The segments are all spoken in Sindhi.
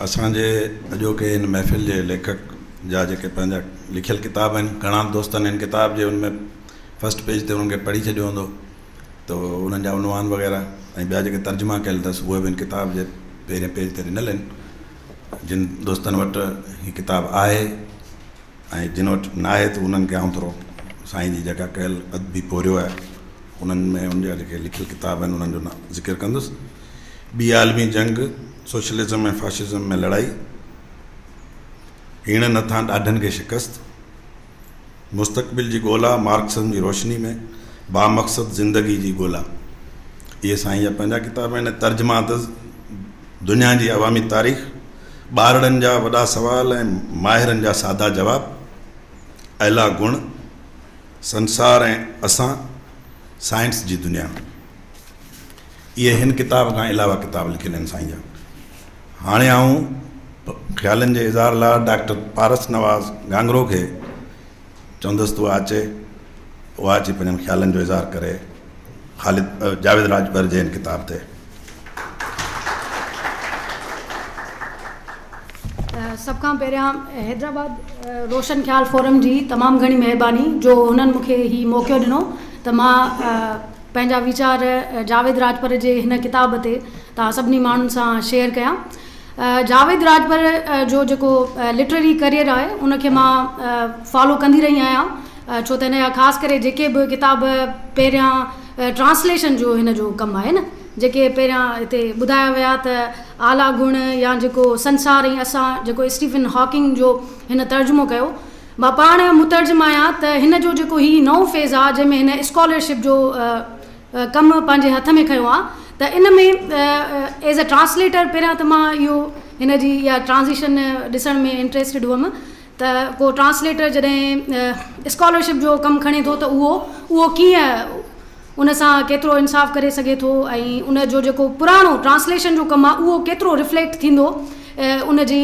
اسان جي اڄوڪي هن محفل جي ليکڪ جا جيڪي پنهنجا لکيل ڪتاب آهن گهڻا دوستن هن ڪتاب جي ان ۾ فسٽ پيج تي انهن کي پڙهي ڇڏيو هوندو ته انهن جا عنوان وغيره ۽ ٻيا جيڪي ترجما ڪيل اٿس اهي به هن ڪتاب جي پهرين پيج تي ڏنل آهن جن دوستن وٽ هي ڪتاب آهي ۽ جن وٽ ناهي ته انهن کي آئون ٿورو سائين جي جيڪا ڪيل ادبي پورهيو آهي انهن ۾ هن جا جيڪي لکيل ڪتاب آهن انهن جو ذڪر ڪندس، ٻي عالمي جنگ، سوشلزم ۽ فاشزم ۾ لڙائي، هيڻن هٿان ڏاڍن کي شڪست، مستقبل جي ڳولا، مارڪسزم جي روشني ۾ بامقصد زندگي جي ڳولا. اهي سائين جا پنهنجا ڪتاب آهن ۽ ترجما اٿس دنيا جي عوامي تاريخ، ٻارڙن جا وڏا سوال ۽ ماهرن جا سادا جواب، اعليٰ گڻ، سنسار ۽ اسان، سائنس جي دنيا. اهي هن ڪتاب کان علاوه ڪتاب لکيل آهن سائين جا. هاڻي آئون خيالن جي اظهار لاء ڊاڪٽر پارس نواز گهانگهرو کي چوندس تو آچي اهو آچي پنهنجن خيالن جو اظهار ڪري. خالد جاويد راڄپر جي هن ڪتاب تي. سڀ کان پهريان حيدرآباد روشن خيال فورم جي تمام گهڻي مهرباني جو هنن مون کي هي موقعو ڏنو ته مان پنهنجا ويچار جاويد راڄپر جي هن ڪتاب تي توهان سڀني ماڻهن سان شيئر ڪيان. جاويد راڄپر جو جيڪو لٽرري ڪريئر آهي ان کي مان فالو ڪندي رهي آهيان. ڇو ته هن جا خاص ڪري جيڪي به ڪتاب پهريان ٽرانسليشن جو هن جو ڪم آهي نه جيڪي پهريان هتي ٻڌايا ويا ته اعليٰ گڻ يا جيڪو سنسار ۽ اسان جيڪو اسٽيفن هاڪنگ جو هن ترجمو ڪيو مان پاڻ مترجم آهيان ته هن جو جيڪو هي نئون فيز آهي جنهن ۾ هن اسڪالرشپ جو ڪم پنهنجي هٿ ۾ کنيو آهي ته ان ۾ ايز اي ٽرانسليٽر پهريان ته مان اهو هن جي اها ٽرانزيشن ڏسڻ ۾ انٽريسٽيڊ هئم ته ڪو ٽرانسليٽر جڏهن اسڪالرشپ جو ڪم کڻي ٿو ته اهو اهو ڪيئن ان سان ڪيترو انصاف ڪري سگهي ٿو ۽ ان جو جيڪو پراڻو ٽرانسليشن جو ڪم آهي اهو ڪيترو رفليڪٽ ٿيندو ان جي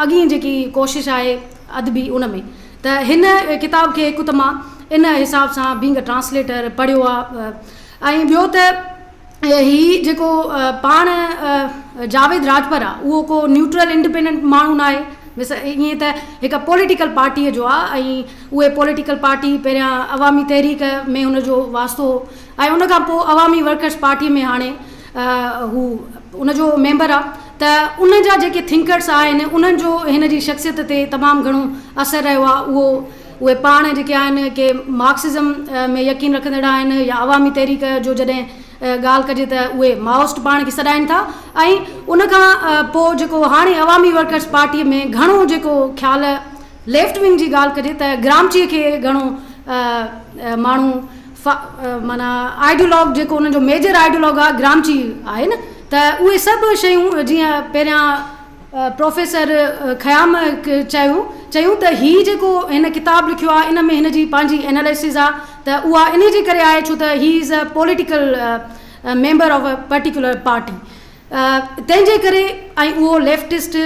اڳين جيڪي ڪوشش آهي ادبي ان ۾ ته هن ڪتاب کي هڪ ته مان ان حساب سان بينگ اي ٽرانسليٽر پڙهيو آهي ۽ ٻيو ته هي جيڪو پاڻ جاويد راڄپر آ اهو ڪو نيوٽرل انڊپينڊنٽ ماڻهو نه آهي بس ائين ته هڪ پوليٽيڪل پارٽيء جو آ ۽ اهي پوليٽيڪل پارٽي پهريان عوامي تحريڪ ۾ ان جو واسطو هو ۽ ان کان پوء عوامي ورڪرس پارٽيء ۾ هاڻي هو ان جو ميمبر آ ته ان جا جيڪي ٿنڪرس آهن انهن جو هن جي شخصيت تي تمام گهڻو اثر رهيو آ اهو اهي پاڻ جيڪي آهن ڪي مارڪسزم ۾ يقين رکندڙ آهن يا عوامي تحريڪ جو جڏهن ڳالهه ڪجي ته اهي مائوسٽ پاڻ کي سڏائين ٿا ۽ ان کان پوء جيڪو هاڻي عوامي ورڪرز پارٽيء ۾ گهڻو جيڪو خيال ليفٽ ونگ جي ڳالهه ڪجي ته گرامچيء کي گهڻو ماڻهو معنيٰ آئيڊيولاگ جيڪو انهن جو ميجر آئيڊيولاگ آهي گرامچي آهي نه ته اهي سڀ شيون جيئن پهريان پروفيسر خيام چيو چيون ته هي جيڪو هن ڪتاب لکيو آهي ان ۾ هن جي پنهنجي اناليسز آهي ته اها انهي جي ڪري آهي ڇو ته هي is a political member of a particular party تنهن جي ڪري ۽ اهو ليفٽسٽ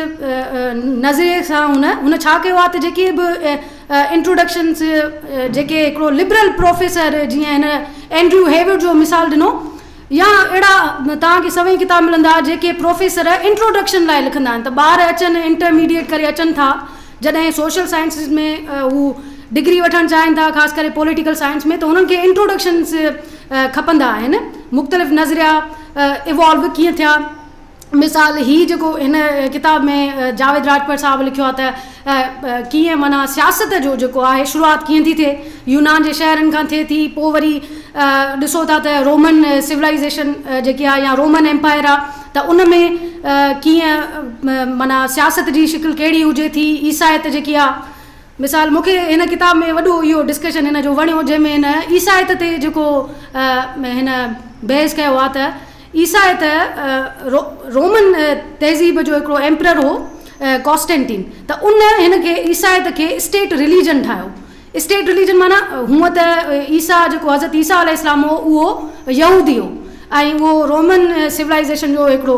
نظريي سان هن هن ڇا ڪيو آهي ته جيڪي به انٽروڊڪشنس جيڪي هڪڙو لبرل پروفيسر جيئن هن اينڊريو هيوڊ جو مثال ڏنو يا اهڙا توهان کي سوين ڪتاب ملندا جيڪي پروفيسر انٽروڊڪشن لاء لکندا آهن ته ٻار اچن انٽر ميڊيئيٽ ڪري اچن ٿا جڏهن سوشل سائنسز ۾ هو ڊگري وٺڻ چاهين ٿا خاص ڪري پوليٽيڪل سائنس ۾ ته هنن کي انٽروڊڪشنز کپندا آهن مختلف نظريا ايوالو ڪيئن ٿيا. مثال هي جيڪو هن ڪتاب ۾ جاويد راڄپر صاحب لکيو آهي ته ڪيئن معنيٰ سياست جو جيڪو آهي شروعات ڪيئن ٿي ٿئي يونان جي شهرن کان ٿئي ٿي پوء وري ڏسو ٿا ته رومن سولائيزيشن جيڪي آهي يا رومن ايمپائر آهي ته ان ۾ ڪيئن معنيٰ سياست جي شڪل ڪهڙي هجي ٿي عيسائيت جيڪي آهي مثال مون کي هن ڪتاب ۾ وڏو اهو ڊسڪشن هن جو وڻيو جنهن ۾ هن عيسائيت تي جيڪو هن بحث ڪيو آهي ته عيسيٰ هي ته رومن تهذيب جو هڪڙو ايمپرر هو ڪاسٽينٽين ته ان هن کي عيسيٰ هي ته کي اسٽيٽ رليجن ٺاهيو اسٽيٽ رليجن معنيٰ هونء ته عيسيٰ جيڪو حضرت عيسيٰ عليه السلام هو اهو يهودي هو ۽ اهو رومن سولائيزيشن جو هڪڙو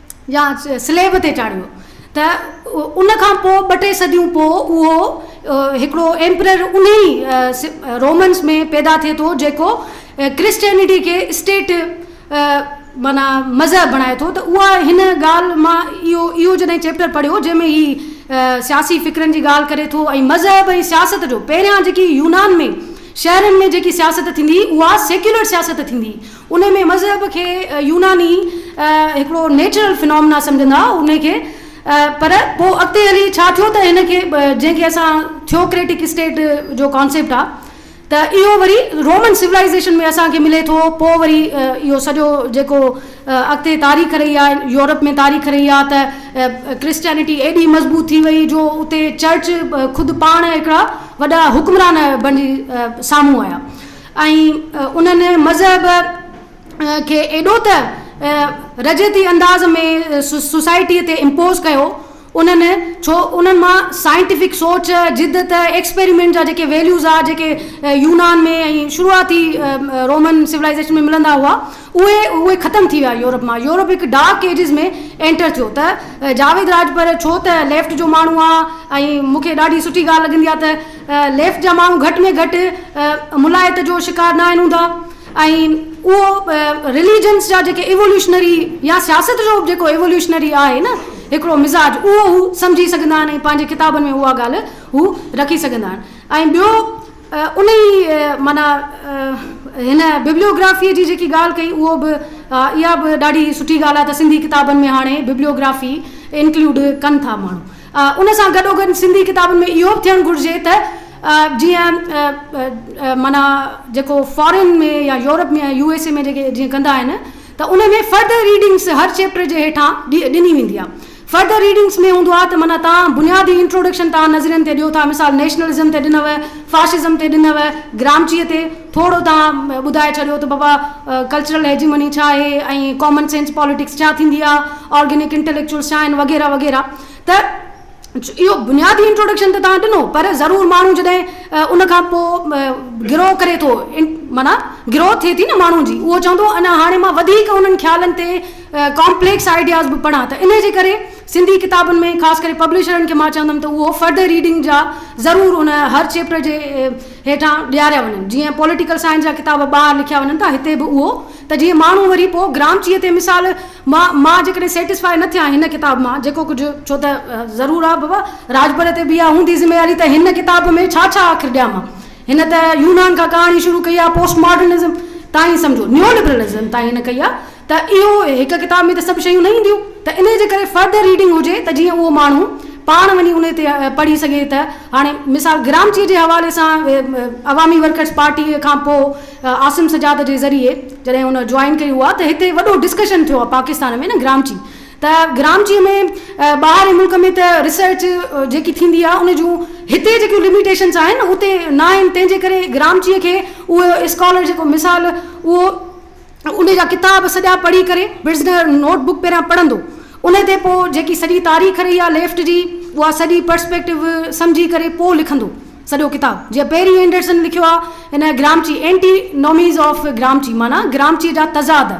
يا سليب تي چاڙهيو ته ان کان پوء ٻه ٽي صديون پوء اهو هڪڙو ايمپرر انهي رومنس ۾ پيدا ٿئي ٿو جيڪو ڪرسچينٽي کي اسٽيٽ معنيٰ مذهب بڻائي ٿو ته اها هن ڳالهه مان اهو اهو جڏهن چيپٽر پڙهيو جنهن ۾ هي سياسي فڪرن جي ڳالهه ڪري ٿو ۽ مذهب ۽ سياست جو پهريان جيڪي يونان ۾ شهرن ۾ جيڪي سياست ٿيندي هئي اها سيڪيولر سياست ٿيندي هئي انهي ۾ مذهب کي يوناني هڪڙو نيچرل فنامنا سمجهندا هئا انهي کي پر پوء اڳتي هلي ڇا ٿيو ته هن کي جنهن کي اسان ٿيوڪريٽڪ اسٽيٽ جو ڪانسيپٽ آ ته اهو وري رومن سولائيزيشن ۾ اسان کي ملي ٿو پوء وري اهو سڄو جيڪو اڳتي تاريخ رهي آ يورپ ۾ تاريخ رهي آ ته ڪرسچينٽي ايڏي مضبوط ٿي وئي جو اتي چرچ خود پاڻ هڪڙا وڏا حڪمران بڻجي سامهون آيا ۽ انهن مذهب کي ايڏو ته رجعتي انداز ۾ سوسائٽيء تي امپوز ڪيو، انهن ڇو انهن مان سائنٽيفڪ سوچ، جدت، ايڪسپيريمينٽ جا جيڪي ويليوز آ جيڪي يونان ۾ ۽ شروعاتي رومن سولائيزيشن ۾ ملندا هئا اهي اهي ختم ٿي ويا يورپ مان يورپ هڪ ڊارڪ ايجز ۾ اينٽر ٿيو ته جاويد راڄپر ڇو ته ليفٽ جو ماڻهو آ ۽ مونکي ڏاڍي سٺي ڳالهه لڳندي آ ته ليف جا ماڻهو گهٽ ۾ گهٽ ملائت جو شڪار نه آهن هوندا ۽ اهو رليجنس جا جيڪي ايووليوشنري يا سياست جو به جيڪو ايووليوشنري آهي نه هڪڙو مزاج اهو هو سمجهي سگهندا آهن ۽ پنهنجي ڪتابن ۾ اها ڳالهه هو رکي سگهندا آهن ۽ ٻيو انهي معنيٰ هن ببليوگرافيء جي جيڪي ڳالهه ڪئي اهو به اها به ڏاڍي سٺي ڳالهه آهي ته سنڌي ڪتابن ۾ هاڻي ببليوگرافي انڪلوڊ ڪن ٿا ماڻهو ان سان گڏوگڏ سنڌي ڪتابن ۾ اهو به ٿيڻ گهرجي ته جيئن معنيٰ جيڪو فارين ۾ يا يورپ ۾ يا يو ايس اي ۾ جيڪي جيئن ڪندا آهن ته ان ۾ فرڌر ريڊنگس هر چيپٽر جي هيٺان ڏني ويندي آهي. فرڌر ريڊنگس ۾ هوندو آهي ته معنيٰ توهان بنيادي انٽروڊڪشن توهان نظرين تي ڏيو ٿا مثال نيشنلزم تي ڏنو، فاشزم تي ڏنو، گرامچيء تي، ٿورو توهان ٻڌائي ڇڏيو ته بابا ڪلچرل هيجيمني ڇا آهي ۽ ڪامن سينس پاليٽڪس ڇا ٿيندي آهي، آرگينڪ انٽيليڪچوئلز ڇا آهن وغيره وغيره ته اهو بنيادي انٽروڊڪشن ته توهان ڏنو پر ضرور ماڻهو جڏهن ان کان پوء گرو ڪري ٿو معنيٰ گروٿ ٿئي ٿي نه ماڻهو جي اهو چوندو اڃا هاڻي مان وڌيڪ انهن خيالن تي ڪامپليڪس آئيڊياز به پڙهان ته انهي جي ڪري سنڌي ڪتابن ۾ خاص ڪري پبلشرن کي مان چوندم ته اهو فرڌر ريڊنگ جا ضرور ان هر چيپٽر جي هيٺان ڏياريا وڃن جيئن پوليٽيڪل سائنس جا ڪتاب ٻاهر لکيا وڃن ٿا هتي به اهو ته جيئن ماڻهو وري پو گرامچيء تي مثال مان مان جيڪڏهن سيٽسفائي نه ٿيان هن ڪتاب مان جيڪو ڪجهه ڇو ته ضرور آ بابا راجپر تي به اها هوندي ذميواري ته هن ڪتاب ۾ ڇا ڇا آخر ڏيان مان هن ته يونان کان ڪهاڻي شروع ڪئي آ پوسٽ ماڊرنزم تائين سمجهو نيو لبرلزم تائين هن ڪئي آ ته اهو هڪ ڪتاب ۾ ته سڀ شيون نه اينديون ته انهيء جي ڪري فرد ريڊنگ هجي ته جيئن اهو ماڻهو پاڻ وڃي انهيء تي پڙهي سگهي ته هاڻي مثال گرامچيء جي حوالي سان عوامي ورڪرس پارٽيء کان پوء عاصم سجاد جي ذريعي جڏهن هن جوائن ڪئي هئا ته هتي وڏو ڊسڪشن ٿيو آهي پاڪستان ۾ نه گرامچي ته گرامچيء ۾ ٻاهرين ملڪ ۾ ته ريسرچ جيڪي ٿيندي آهي ان جون هتي جيڪيون لميٽيشنس آهن اتي ناهن تنهن جي ڪري گرامچيء کي اهو اسڪالر جيڪو مثال اهو ان جا ڪتاب سڄا پڙهي ڪري ورزنر نوٽ بڪ پهريان پڙهندو. ان تي پوء جيڪي سڄي تاريخ رهي آهي ليفٽ جي اها سڄي پرسپيڪٽو سمجهي ڪري پوء لکندو سڄو ڪتاب. جيئن پيري اينڊرسن لکيو آهي ان گرامچي اينٽي نوميز آف گرامچي معنيٰ گرامچي جا تضاد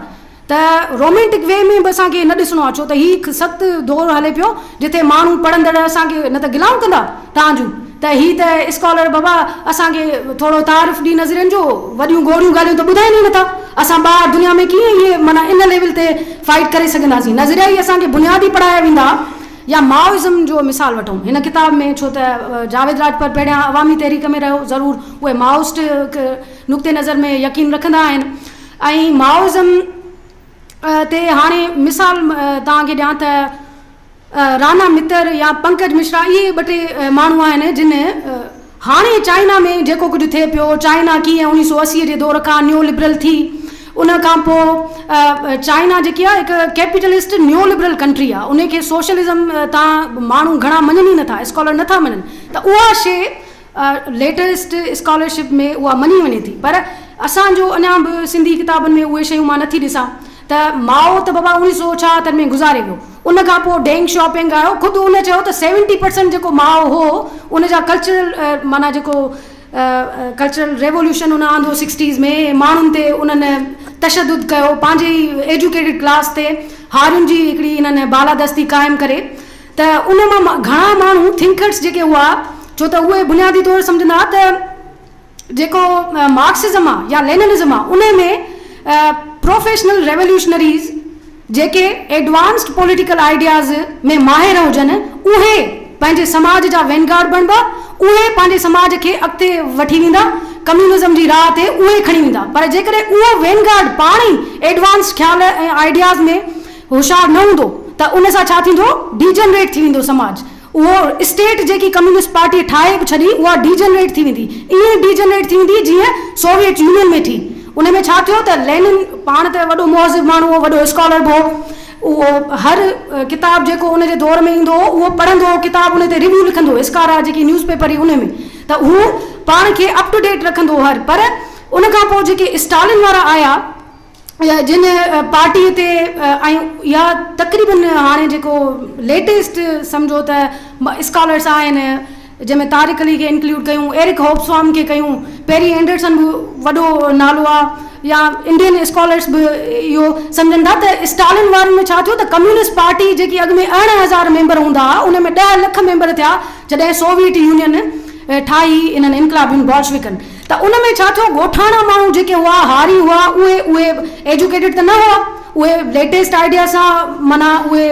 ته رومينٽڪ وي ۾ به اسان کي نه ڏسڻو آهي ڇو ته هي هڪ سخت دور هلي پيو جتي ماڻهو پڙهندڙ اسان کي نه ته گلائون ڪندا تان جو ته هي ته اسڪالر بابا اسان کي ٿورو تعارف ڏي نظرين جو، وڏيون گوڙيون ڳالهيون ته ٻڌائين ئي نه ٿا، اسان ٻاهر دنيا ۾ ڪيئن اهي معنيٰ ان ليول تي فائيٽ ڪري سگهنداسين، نظريا ئي اسان کي بنياد ئي پڙهايا ويندا يا مائوازم جو مثال وٺون هن ڪتاب ۾ ڇو ته جاويد راڄپر پهريان عوامي تحريڪ ۾ رهيو ضرور اهي مائوسٽ نقطي نظر ۾ يقين رکندا آهن ۽ مائوازم تي هاڻي مثال توهان کي ڏيان ته رانا متر يا پنڪج مشرا اهي ٻه ٽي ماڻهو آهن جن هاڻي چائنا ۾ جيڪو ڪجهه ٿئي پيو چائنا ڪيئن اڻيهه سو اسي جي دور کان نيو لبرل ٿي ان کان پوء چائنا جيڪي آهي هڪ ڪيپيٽلسٽ نيو لبرل ڪنٽري آهي ان کي سوشلزم تان ماڻهو گهڻا مڃن ئي نٿا اسڪالر نٿا مڃن ته اها شيء ليٽسٽ اسڪالرشپ ۾ اها مڃي وڃي ٿي پر اسان جو اڃا به سنڌي ڪتابن ۾ اهي شيون مان نٿي ڏسان ته ماء ته بابا اوڻيهه سو ڇاهتر ۾ گذاري ويو ان کان پوء ڊينگ شيا پينگ آيو خود ان چيو ته سيونٽي پرسنٽ جيڪو ماء هو ان جا ڪلچرل معنيٰ جيڪو ڪلچرل ريولوشن ان آندو سڪسٽيز ۾ ماڻهن تي انهن تشدد ڪيو پنهنجي ئي ايجوڪيٽيڊ ڪلاس تي هارين جي هڪڙي انهن بالادستي قائم ڪري ته ان مان گهڻا ماڻهو ٿنڪرس جيڪي هئا ڇو ته اهي بنيادي طور سمجهندا ها ته جيڪو مارڪسزم آهي يا ليننزم آهي ان ۾ پروفيشنل ريوليوشنريز جيڪي ايڊوانسڊ پوليٽيڪل آئيڊياز ۾ ماهر هجن اهي پنهنجي سماج جا وينگارڊ بڻبا اهي پنهنجي سماج کي اڳتي وٺي ويندا ڪميونزم جي راهه تي اهي کڻي ويندا پر جيڪڏهن اهو وينگارڊ پاڻ ئي ايڊوانسڊ خيال ۽ آئيڊياز ۾ هوشيار نه هوندو ته ان سان ڇا ٿيندو؟ ڊيجنريٽ ٿي ويندو سماج. اهو اسٽيٽ جيڪي ڪميونسٽ پارٽيء ٺاهي به ڇڏي، اها ڊيجنريٽ ٿي ويندي. ائين ڊيجنريٽ ٿي ويندي جيئن سوويٽ يونين ۾ ٿي. ان ۾ ڇا ٿيو ته لينن پاڻ ته وڏو مهذب ماڻهو هو، وڏو اسڪالر به هو. اهو هر ڪتاب جيڪو ان جي دور ۾ ايندو هو، اهو پڙهندو هو، ڪتاب ان تي ريويو لکندو هو، اسڪارا جيڪي نيوز پيپر هئي ان ۾ ته هو پاڻ کي اپ ٽو ڊيٽ رکندو هو هر. پر ان کان پوء جيڪي اسٽالن وارا آيا، جن پارٽي تي ۽ يا تقريبن هاڻي جيڪو ليٽيسٽ سمجهو ته اسڪالرس آهن جنهن ۾ طارق علي کي انڪلوڊ ڪيون ايرڪ هوبسوام کي ڪيون پيري اينڊرسن به وڏو نالو آ يا انڊين اسڪالرس به اهو سمجهن ٿا ته اسٽالن وارن ۾ ڇا ٿيو ته ڪميونسٽ پارٽي جيڪي اڳ ۾ ارڙهن هزار ميمبر هوندا ها ان ۾ ڏهه لک ميمبر ٿيا جڏهن سوويٽ يونين ٺاهي انهن انقلابين بولشويڪن ته ان ۾ ڇا ٿيو ڳوٺاڻا ماڻهو جيڪي هئا هاري هئا اهي اهي ايجوڪيٽيڊ ته نه هئا اهي ليٽيسٽ آئيڊيا سان معنيٰ اهي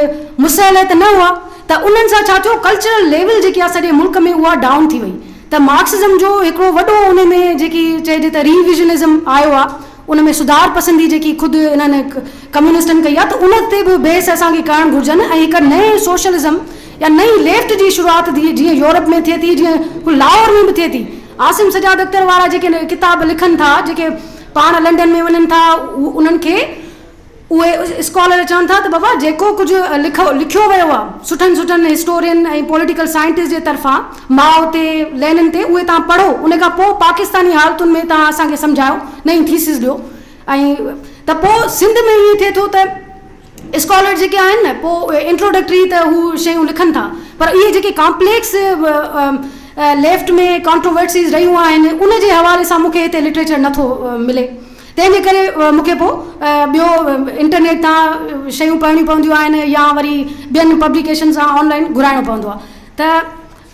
مسلح ته نه هئا ته انهن سان ڇا ٿيو ڪلچرل ليول جيڪي آهي سڄي ملڪ ۾ اها ڊائون ٿي وئي ته مارڪسزم جو هڪڙو وڏو انهي ۾ جيڪي چئجي ته ريويزنزم آيو آهي ان ۾ سڌار پسندي جيڪي خود انهن ڪميونسٽن ڪئي آهي ته ان تي به بحث اسان کي ڪرڻ گهرجن ۽ هڪ نئين سوشلزم يا نئين ليفٽ جي شروعات جيئن يورپ ۾ ٿئي ٿي جيئن ڪو لاهور ۾ به ٿئي ٿي. عاصم سجاد اختر وارا جيڪي ڪتاب لکن ٿا جيڪي پاڻ لنڊن ۾ وڃن ٿا انهن کي اهي اسڪالر چون ٿا ته بابا جيڪو ڪجهه لکيو ويو آهي سٺن سٺن هسٽورين ۽ پوليٽيڪل سائنٽسٽ جي طرفان ماء تي لينن تي اهي توهان پڙهو ان کان پوء پاڪستاني حالتن ۾ توهان اسان کي سمجهايو نئين ٿيسز ڏيو ۽ ته پوء سنڌ ۾ ائين ٿئي ٿو ته اسڪالر جيڪي آهن نه پوء انٽروڊڪٽري ته هو شيون لکن ٿا پر اهي جيڪي ڪامپليڪس ليفٽ ۾ ڪانٽروورسيز رهيون آهن ان جي حوالي سان مون کي هتي لٽريچر نه ٿو ملي تنهن جي ڪري مون کي پوء ٻيو انٽرنيٽ تان شيون پڙهڻيون پونديون آهن يا وري ٻين پبليڪيشن سان آن لائين گهرائڻو پوندو آهي ته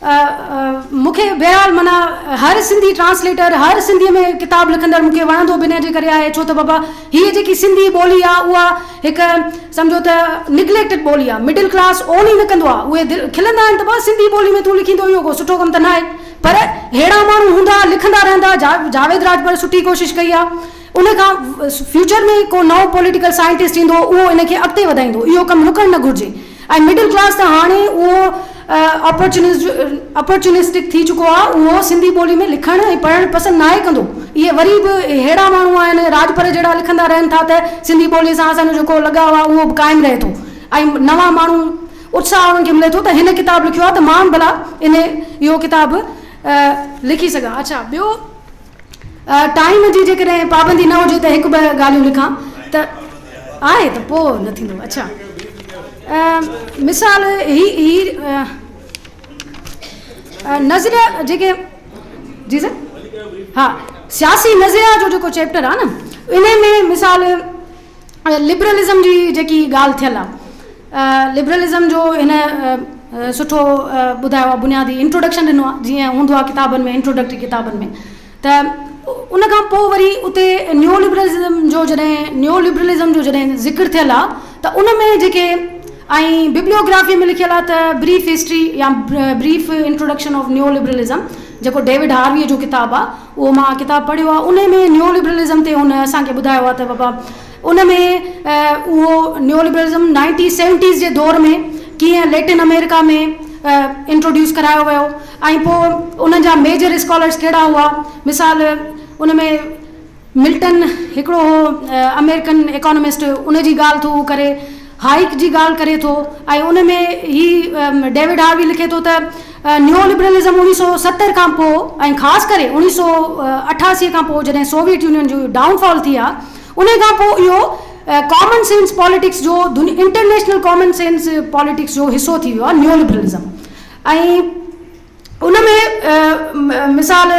مون کي بهرحال معنيٰ هر سنڌي ٽرانسليٽر هر سنڌي ۾ ڪتاب لکندڙ مون کي وڻندو به ان جي ڪري آهي ڇو ته بابا هيء جيڪي سنڌي ٻولي آهي اها هڪ سمجهو ته نگليڪٽڊ ٻولي آهي مڊل ڪلاس اون ئي نه ڪندو آهي اهي کلندا آهن ته ڀاء سنڌي ٻولي ۾ تون لکيندو اهو ڪو سٺو ڪم ته ناهي پر ههڙا ماڻهو هوندا لکندا رهندا جاويد راڄپر سٺي ڪوشش ڪئي آهي ان کان فيوچر ۾ ڪو نئون پوليٽيڪل سائنٽسٽ ايندو اهو ان کي اڳتي وڌائيندو اهو ڪم رڪڻ نه گهرجي. ۽ مڊل ڪلاس ته هاڻي اهو اپورچونسٽڪ ٿي چڪو آهي، اهو سنڌي ٻولي ۾ لکڻ ۽ پڙهڻ پسند ناهي ڪندو. اهي وري به ههڙا ماڻهو آهن، راڄپر جهڙا لکندا رهن ٿا ته سنڌي ٻولي سان اسان جو جيڪو لڳاء آهي اهو به قائم رهي ٿو ۽ نوان ماڻهو اتساهه انهن کي ملي ٿو ته هن ڪتاب لکيو آهي ته مان به ڀلا اهو ڪتاب لکي سگهان. اڇا ٻيو؟ ٽائيم جي جيڪڏهن پابندي نه هجي ته هڪ ٻه ڳالهيون لکان ته آهي ته پوء نه ٿيندو اڇا مثال هي هي نظريا جيڪي جي سر ها سياسي نظريا جو جيڪو چيپٽر آهي نه ان ۾ مثال لبرلزم جي جيڪي ڳالهه ٿيل آ لبرلزم جو هن سٺو ٻڌايو آ بنيادي انٽروڊڪشن ڏنو آ جيئن هوندو آ ڪتابن ۾ انٽروڊڪٽري ڪتابن ۾ ته ان کان پو وري اتي نيو لبرلزم جو جڏهن نيو لبرلزم جو جڏهن ذڪر ٿيل آ ته ان ۾ جيڪي ۽ ببليوگرافي ۾ لکيل آ ته بريف هسٽري يا brief introduction of neo liberalism جيڪو ڊيوڊ هاروي جو ڪتاب آ اهو مان ڪتاب پڙهيو آهي ان ۾ نيو لبرلزم تي هن اسان کي ٻڌايو آهي ته بابا ان ۾ اهو نيو لبرلزم نائنٽي سيونٽيز جي دور ۾ ڪيئن ليٽن امريڪا ۾ انٽروڊيوس ڪرايو ويو ۽ پوء ان جا ميجر اسڪالرس ڪهڙا هئا مثال ان ۾ ملٽن هڪڙو هو امريڪن ايڪانمسٽ ان جي ڳالهه ٿو هو ڪري هائيڪ جي ڳالهه ڪري ٿو ۽ ان ۾ هي ڊيوڊ هاروي لکي ٿو ته نيو لبرلزم اوڻيهه سؤ ستر کان پوء ۽ خاص ڪري اوڻيهه سؤ اٺاسي کان پوء جڏهن سوويت يونين جو ڊائون فال ٿي ها انهي کان پوء اهو ڪامن سينس پاليٽڪس جو انٽرنيشنل ڪامن سينس پاليٽڪس جو حصو ٿي ويو آهي نيو لبرلزم ۽ ان ۾ مثال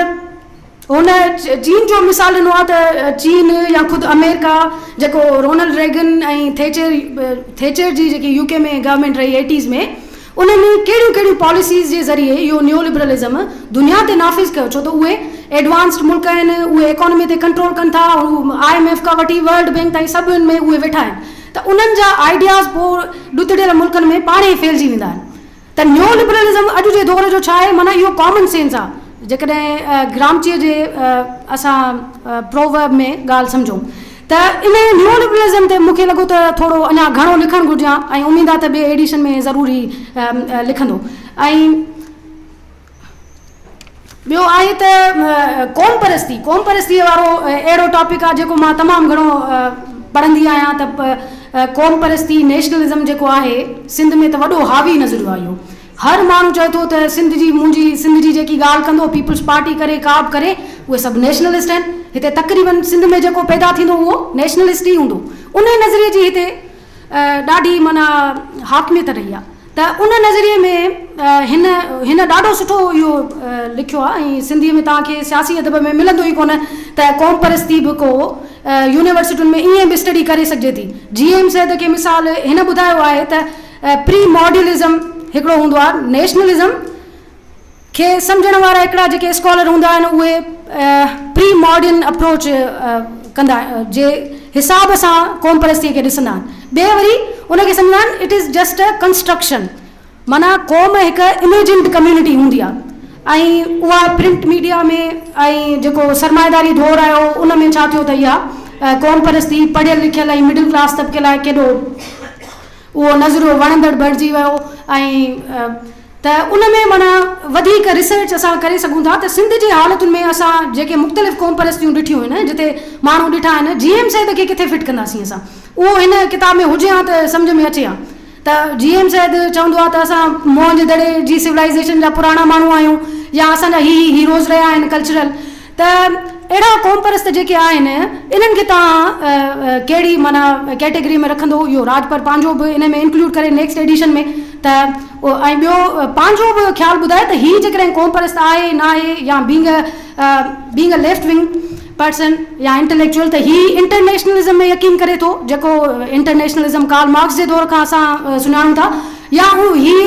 هن چين جو مثال ڏنو آهي ته چين يا خود آمريڪا جيڪو رونلڊ ريگن ۽ ٿيچر Thatcher جي جيڪي يو ڪي ۾ گورنمينٽ رهي ايٽيز ۾ انهن ڪهڙيون ڪهڙيون پاليسيز جي ذريعي اهو نيولبرلزم دنيا تي نافذ ڪيو ڇو ته اهي ايڊوانسڊ ملڪ آهن اهي ايڪانمي تي ڪنٽرول ڪن ٿا هو آء ايم ايف کان وٺي ورلڊ بينڪ تائين سڀن ۾ اهي ويٺا آهن ته انهن جا آئيڊياز پوء ڏتڙيل ملڪن ۾ پاڻهي ڦهلجي ويندا آهن ته نيو لبرلزم اڄ جي دور جو ڇا آهي؟ معنيٰ اهو ڪامن سينس آهي. جيڪڏهن گرامچيء جي اسان پروورب ۾ ڳالهه سمجهون ته ان نيو لبرلزم تي مون کي لڳو ته ٿورو اڃا گهڻو لکڻ گهرجي ها ۽ اميد آهي ته ٻئي ايڊيشن ۾ ضرور هي لکندو ۽ ٻيو آهي ته قومپرستي، قومپرستيء وارو اهڙو ٽاپڪ آهي جيڪو مان تمام گهڻو پڙهندي آهيان ته قومپرستي، نيشنلزم، جيڪو آهي سنڌ ۾ ته وڏو حاوي نظر آيو اهو هر ماڻهو چوي ٿو ته سنڌ جي منهنجي سنڌ جي جيڪي ڳالهه ڪندو پيپلز پارٽي ڪري ڪابه ڪري اهي سڀ نيشنلسٽ آهن هتي تقريبن سنڌ ۾ جيڪو پيدا ٿيندو اهو نيشنلسٽ ئي هوندو انهي نظريي جي هتي ڏاڍي معنيٰ حاڪميت رهي آهي ته ان نظريي ۾ هن هن ڏاڍو سٺو اهو لکيو آهي ۽ سنڌيء ۾ توهان کي سياسي ادب ۾ ملندو ئي ڪونه ته قوم پرستي به ڪو يونيورسٽين ۾ ائين به اسٽڊي ڪري سگهجي ٿي. جي ايم سيد کي مثال هن ٻڌايو آهي ته پري ماڊيلزم هڪڙو هوندو آهي نيشنلزم کي سمجهڻ وارا هڪڙا جيڪي اسڪالر هوندا آهن اهي پري ماڊرن اپروچ ڪندا جي حساب سان قومپرستي کي ڏسندا آهن ٻي وري ان کي سمجهندا آهن it is just a construction معنيٰ قوم هڪ اميجنڊ ڪميونٽي هوندي آهي ۽ اها پرنٽ ميڊيا ۾ ۽ جيڪو سرمائيداري دور آيو ان ۾ ڇا ٿيو ته اها قومپرستي پڙهيل لکيل ۽ مڊل ڪلاس طبقي لاء ڪيڏو اهو نظريو وڻندڙ بڻجي ويو ۽ ته ان ۾ معنيٰ وڌيڪ ريسرچ اسان ڪري سگهون ٿا ته سنڌ جي حالتن ۾ اسان جيڪي مختلف قومپرستيون ڏٺيون آهن جتي ماڻهو ڏٺا آهن جي ايم سيد کي ڪٿي فٽ ڪنداسين اسان اهو هن ڪتاب ۾ هجي هان ته سمجهه ۾ اچي هان ته جي ايم سيد چوندو آهي ته اسان موهن جي دڙي جي سولائيزيشن جا پراڻا ماڻهو آهيون يا اسان جا هي هي هيروز رهيا آهن ڪلچرل ته اهڙا قومپرست جيڪي آهن انهن کي توهان ڪهڙي معنيٰ ڪيٽيگري ۾ رکندو اهو راڄپر پنهنجو به انهي ۾ انڪلوڊ ڪري نيڪسٽ ايڊيشن ۾ ته ۽ ٻيو پنهنجو به خيال ٻڌائي ته هي جيڪڏهن قومپرست آهي ناهي يا being a being a left wing person يا انٽليڪچوئل ته هي انٽرنيشنلزم ۾ يقين ڪري ٿو جيڪو انٽرنيشنلزم ڪارل مارڪس جي دور کان اسان سڃاڻون ٿا يا هو هي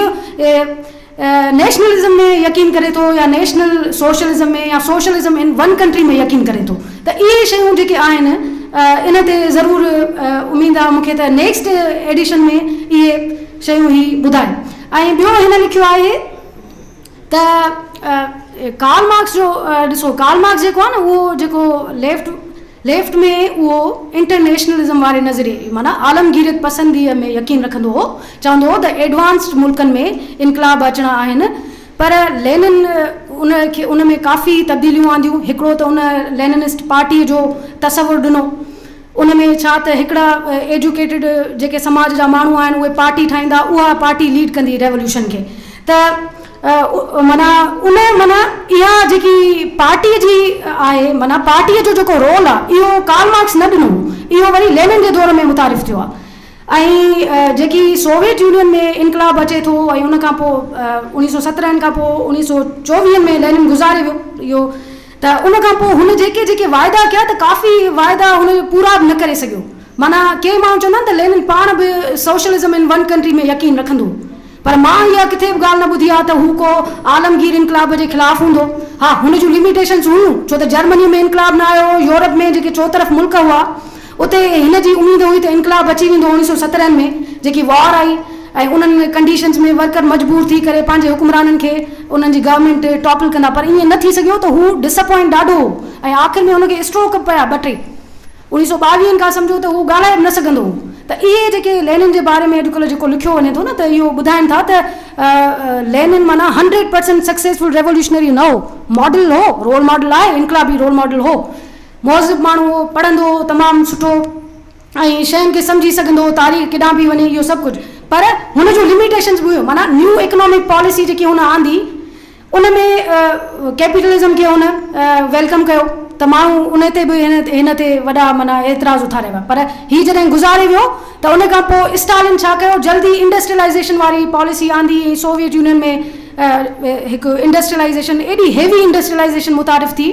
نيشنلزم ۾ يقين ڪري ٿو يا نيشنل سوشلزم ۾ يا سوشلزم ان ون ڪنٽري ۾ يقين ڪري ٿو ته اهي شيون جيڪي آهن ان تي ضرور اميد آ مون کي ته نيڪسٽ ايڊيشن ۾ اهي شيون هي ٻڌائي ۽ ٻيو هن لکيو آهي ته ڪارل مارڪس جو ڏسو ڪارل مارڪس جيڪو آ نه اهو جيڪو ليفٽ ليفٽ ۾ اهو انٽرنيشنلزم واري نظريي معنيٰ عالمگيريت پسنديء ۾ يقين رکندو هو، چوندو هو ته ايڊوانسڊ ملڪن ۾ انقلاب اچڻا آهن، پر لينن ان کي ان ۾ ڪافي تبديليون آنديون، هڪڙو ته ان ليننسٽ پارٽيء جو تصور ڏنو، ان ۾ ڇا ته هڪڙا ايڊيوڪيٽڊ جيڪي سماج جا ماڻهو آهن اهي پارٽي ٺاهيندا، اها پارٽي ليڊ ڪندي ريوليوشن کي، ته معنيٰ ان معنيٰ اها جيڪي پارٽيء جي آهي معنيٰ پارٽيء جو جيڪو رول آ اهو ڪارل مارڪس نه ڏنو هو اهو وري لينن جي دور ۾ متعارف ٿيو آ ۽ جيڪي سوويت يونين ۾ انقلاب اچي ٿو ۽ ان کان پوء اوڻيهه سؤ سترهن کان پوء اوڻيهه سؤ چوويهن ۾ لينن گذاري ويو ته ان کان پوء هن جيڪي جيڪي واعدا ڪيا ته ڪافي واعدا هن پورا به نه ڪري سگهيو معنيٰ ڪي ماڻهو چوندا آهن ته لينن پاڻ به سوشلزم ان ون ڪنٽري ۾ يقين رکندو هو پر مان اها ڪٿي به ڳالهه نه ٻڌي آهي ته هو ڪو عالمگير انقلاب جي خلاف هوندو. ها، هن جون لميٽيشنز هيون، ڇو ته جرمنيء ۾ انقلاب نه آيو هو، يورپ ۾ جيڪي چوطرف ملڪ هئا، اتي هن جي اميد هئي ته انقلاب اچي ويندو، اڻيهه سؤ سترهن ۾ جيڪي وار آئي ۽ انهن ڪنڊيشنز ۾ ورڪر مجبور ٿي ڪري پنهنجي حڪمرانن کي انهن جي گورنمينٽ ٽاپل ڪندا، پر ائين نه ٿي سگهيو ته هو ڊسپوائنٽ ڏاڍو هو ۽ آخر ۾ هن کي اسٽروڪ به پيا ٻه ٽي. انهيء سو ٻاويهن کان سمجهو ته هو ڳالهائي به نه سگهندو هو ته اهي جيڪي لينن جي باري ۾ اڄڪلهه جيڪو لکيو وڃي ٿو نه ته اهو ٻڌائين ٿا ته لينن معنيٰ هنڊريڊ پرسينٽ سڪسيسفل ريوليوشنري نه هو، ماڊل هو، رول ماڊل آهي، انقلابي رول ماڊل هو، مهذب ماڻهو هو، پڙهندو هو تمام سٺو ۽ شين کي سمجهي سگهندو هو، تاريخ ڪيڏانهن به وڃي اهو سڀ ڪجهه پر هن جون لميٽيشنز به هيون معنيٰ نيو اڪنامڪ پاليسي جيڪي هن آندي، ان ۾ ڪيپيٽلزم کي هن ويلڪم ڪيو ته ماڻهو ان تي به هن تي وڏا معنيٰ اعتراض اٿاري ويا پر هي جڏهن گذاري ويو ته ان کان پوء اسٽالن ڇا ڪيو جلد ئي انڊسٽريلائيزيشن واري پاليسي آندي ۽ سوويت يونين ۾ هڪ انڊسٽريلائيزيشن ايڏي هيوي انڊسٽريلائيزيشن متعارف ٿي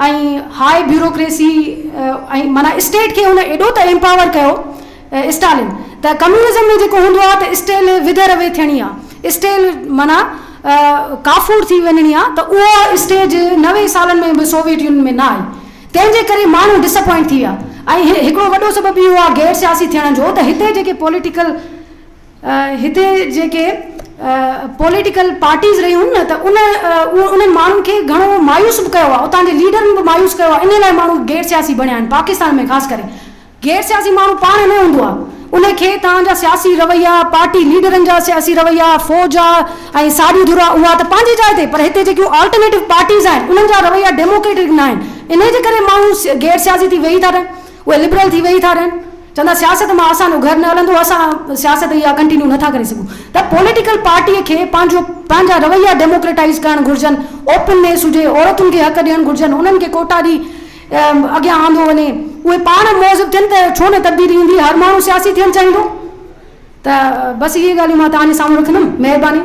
۽ هاء بيوروڪريسي ۽ معنيٰ اسٽيٽ کي هن ايڏو ته ايمپاور ڪيو اسٽالين، ته ڪميونزم ۾ جيڪو هوندو آهي ته اسٽيل وڌي روي ٿيڻي آهي، اسٽيل معنيٰ ڪافور ٿي وڃڻي آهي ته اها اسٽيج نوي سالن ۾ به سوويٽ يونين ۾ نه آئي، تنهن جي ڪري ماڻهو ڊس اپوائنٽ ٿي ويا ۽ هڪڙو وڏو سبب اهو آهي غير سياسي ٿيڻ جو ته هتي جيڪي پوليٽيڪل هتي جيڪي پوليٽيڪل پارٽيز رهيون هن ته ان انهن ماڻهن کي گهڻو مايوس به ڪيو آهي، اتان جي ليڊرن به مايوس ڪيو آهي، انهي لاء ماڻهو غير سياسي بڻيا آهن پاڪستان ۾ خاص ڪري. غير سياسي ماڻهو پاڻ نه هوندو آهي، ان کي توهان جا سياسي رويا، پارٽي ليڊرن جا سياسي رويا، فوج آ ۽ ساڄي ڌر آ اها ته پنهنجي جاء تي پر هتي جيڪيون آلٽرنيٽو پارٽيز آهن انهن جا رويا ڊيموڪريٽڪ نه آهن انهي جي ڪري ماڻهو غير سياسي ٿي ويهي ٿا رهن اهي لبرل ٿي ويهي ٿا رهن چون ٿا سياست مان اسان جو گهر نه هلندو اسان سياست اها ڪنٽينيو نه ٿا ڪري سگهون ته پوليٽيڪل پارٽي کي پنهنجو پنهنجا رويا ڊيموڪريٽائيز ڪرڻ گهرجن اوپن نيس هجي عورتن کي حق ڏيڻ گهرجن انهن کي ڪوٽا ڏي اڳيان آندو وڃي اهي پاڻ مهذب ٿين ته ڇو نه تبديلي ايندي هر ماڻهو سياسي ٿيڻ چاهيندو ته بس اهي ڳالهيون مان توهان جي سامهون رکندم مهرباني.